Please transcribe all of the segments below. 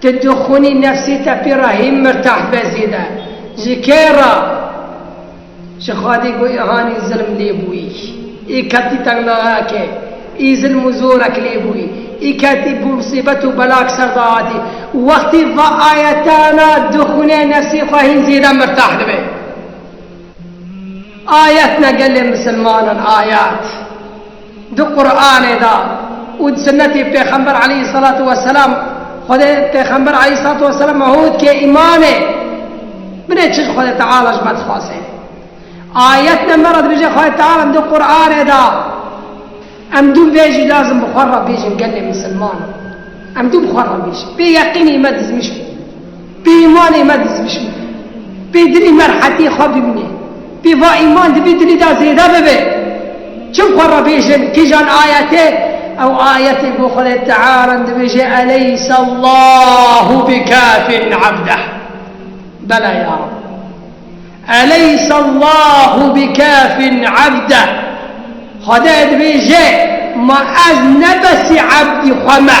Ti dixwînî nefsê te pê re hîn mirtah be zêde. Ji kê re? Ji Xwedê ku îhanî zilm lê bûyî. Î ketî tengnayakê. Î zilm û zorek lê bûyî. Î ketî bi misîbet û belak ser de hatî. Wextê va ayetana dixwîne nefsê xwe hîn zêde mirtah dibe. Ayet ne gelê misilmanan ayet. Di Quranê de û di sinetê Pêxember aleyhî selatû weselam Xwedê Pêxember aleyhî selatû weselam me hût kê îmanê binê çi ji Xwedê Teala ji me dixwaze. Ayet ne me re dibêje Xwedê Teala di Quranê de em dû vê jî lazim bi xwe re bêjin gelê misilman em dû bi xwe re bêjin. Bê yeqînî me dizmîş bû. Pê îmanê me diz bişîne. Pê dilî me rehetiyê xwe bibîne. Pê va îman di vî dilî de zêde bibe. Çim xwe re bêjin kîjan ayet e? Ew ayetê ku Xwedê Teala dibêje Eleyse Llahu bikafin abdeh. Bela ya Rab. Eleyse Llahu bikafin abdeh. Xwedê dibêje ma ez ne besî abdî xwe me.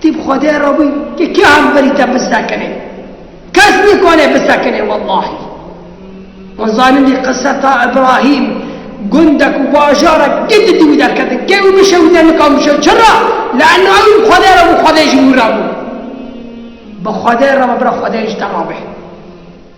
Tî bi Xwedê re bû ke kê hemberî te bisekine. Kes nîkane bisekine wellahî. Wan zanin dî qise ta Îbrahîm gundek û bajarek din di dîwî derketin. Kê wî bişe wî te nikan bişe. Çira? Leanno ewî bi Xwedê re bû Xwedê jî wî re bû. Bi Xwedê re be bira Xwedê jî te re be.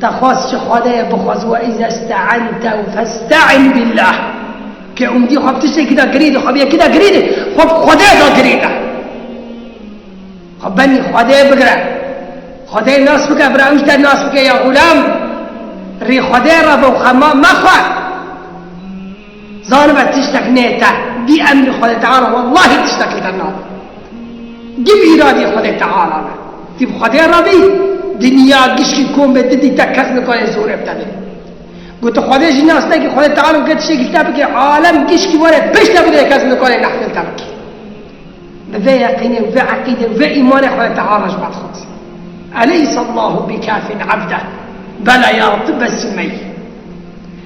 Te xwest ji Xwedê bixwaz we îza ste'ente û feste'in bîllah. Kê umdî xwe bi tiştekî de girî dixwe bi yekî de girî dê, xwe bi Xwedê de girî de. Xwe benî Xwedê bigire. Xwedê nas bike, bira ewj te nas bike ya xulam. Rî Xwedê re bi xema mexwe. Zanibe tiştek nête bî emrî Xwedê Teala wellahî tiştek li te nabe. Gim îradî Xwedê Teala be. Tî bi Xwedê re bî, dinya, gişkî, kombê ti dîte kes nikarê zorê bi te bidê. Ku tu Xwedê jî nas nekî, Xwedê Teala dike tiştekî li te bike, alem, gişkî were pişt te bidê kes nikarê nehfê li te bike. Bi vê yeqînê û vê eqîdê û vê îmanê Xwedê Teala ji me dixwaze. Eleyse Allahu bikafin abdeh, bela ya Reb tu besî me yî.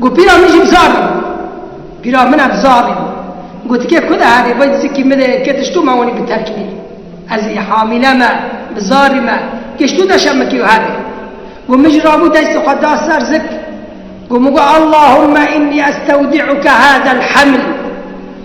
Got pîra min jî bi zalî bû. Pîra min ev zalî bû. Gotikê ku de herê vay dizikî min ê ke tişto me wanî bi terkînî. Ez ê hamîle me, bi zalî me, gişto deşa min kê û herê. Got min jî rabû destê xwe da ser zik. Got min got Allahûmme înnî estewdî'uke hâdel heml.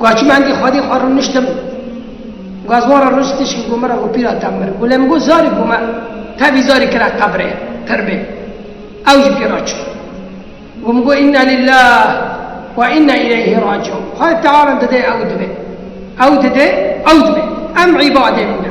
Gwa çûme endî xwedî xwe rûniştim. Gwa ziwan re rûnişt tişkî got min re got pîra te mir. Gule min got zarî got me tevî zarî kira qebrê pirbê. Ew jî pîra çû. Got min got înna lîllah we înna îleyhî raciûn. Xwedê teala min dide ew dibe. Ew dide ew dibe. Em îbadê min e.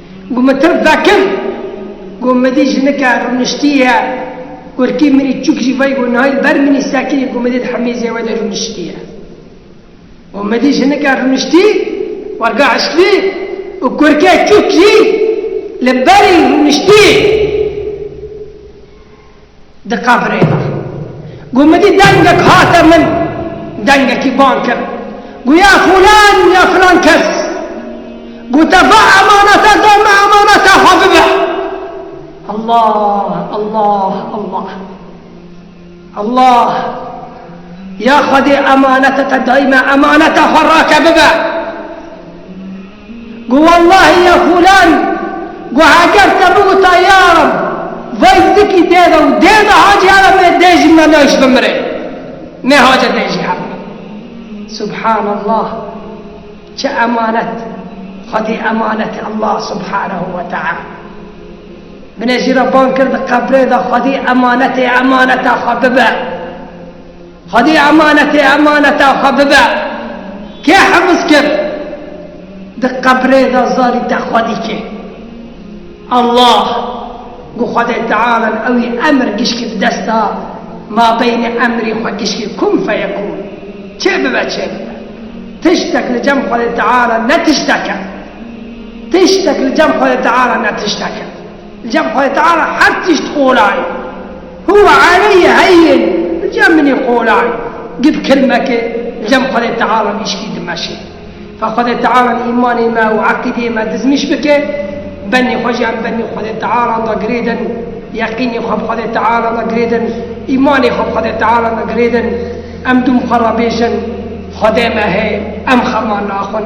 Ku min tirk vekir, ku min dît jinike rûniştî ye, kurkî min î çûk jî vayî ku niha li ber min î sekirî ku min dît hemîzê we de rûniştî ye. Ku min dît jinike rûniştî, werga eşkvî û kurkê çûk jî li berî rûniştî. Diqevrêne. Got min dît dengek hate min, dengekî bang kir. Got ya fulan ya filan kes. Got te va emanete da min emaneta xwe bibe. Allah, Allah, Allah. Allah. Ya xwedê emanete te dayî me emaneta xwe rake bibe. Got wellahî ya Xûlan, got heger te bigota ya reb vay zikî dê de û dê de hacî here bê dê jî me nayş bimirê. Nê hace dê jî hebû. Subhanallah çi emanet xwedî emanetê Allah subhanehu we teala. Binê jî re bang kir di qebrê de xwedî emanetê emaneta xwe bibe. Xwedî emanetê emaneta xwe bibe. Kê hifz kir? Di qebrê de zarî te xwedî kê? Allah, ku Xwedê Teala li ewî emr gişkî di dest da, mabeynê emrî xwe gişkî kûn feyekûn, çê bibe çê bibe. Tiştek li cem Xwedê Teala ne tiştek e. Tiştek li cem Xwedê Teala ne tiştek e. Cem xwe teala her tişt qolayê. Huwe ereyê heyên cem minê qolayê. Gid kilmeke cem xwedê teala vîşkî dimeşê. Fe xwedê teala li îmanê me û eqîdeyê me dizmîş bike. Benê xwe jî em benê xwedê teala de girêdin. Yeqînê xwe bi xwedê teala de girêdin. Îmanê xwe bi xwedê teala de girêdin. Em dûm xwe re bêjin, Xwedê me heye, em xema naxwin.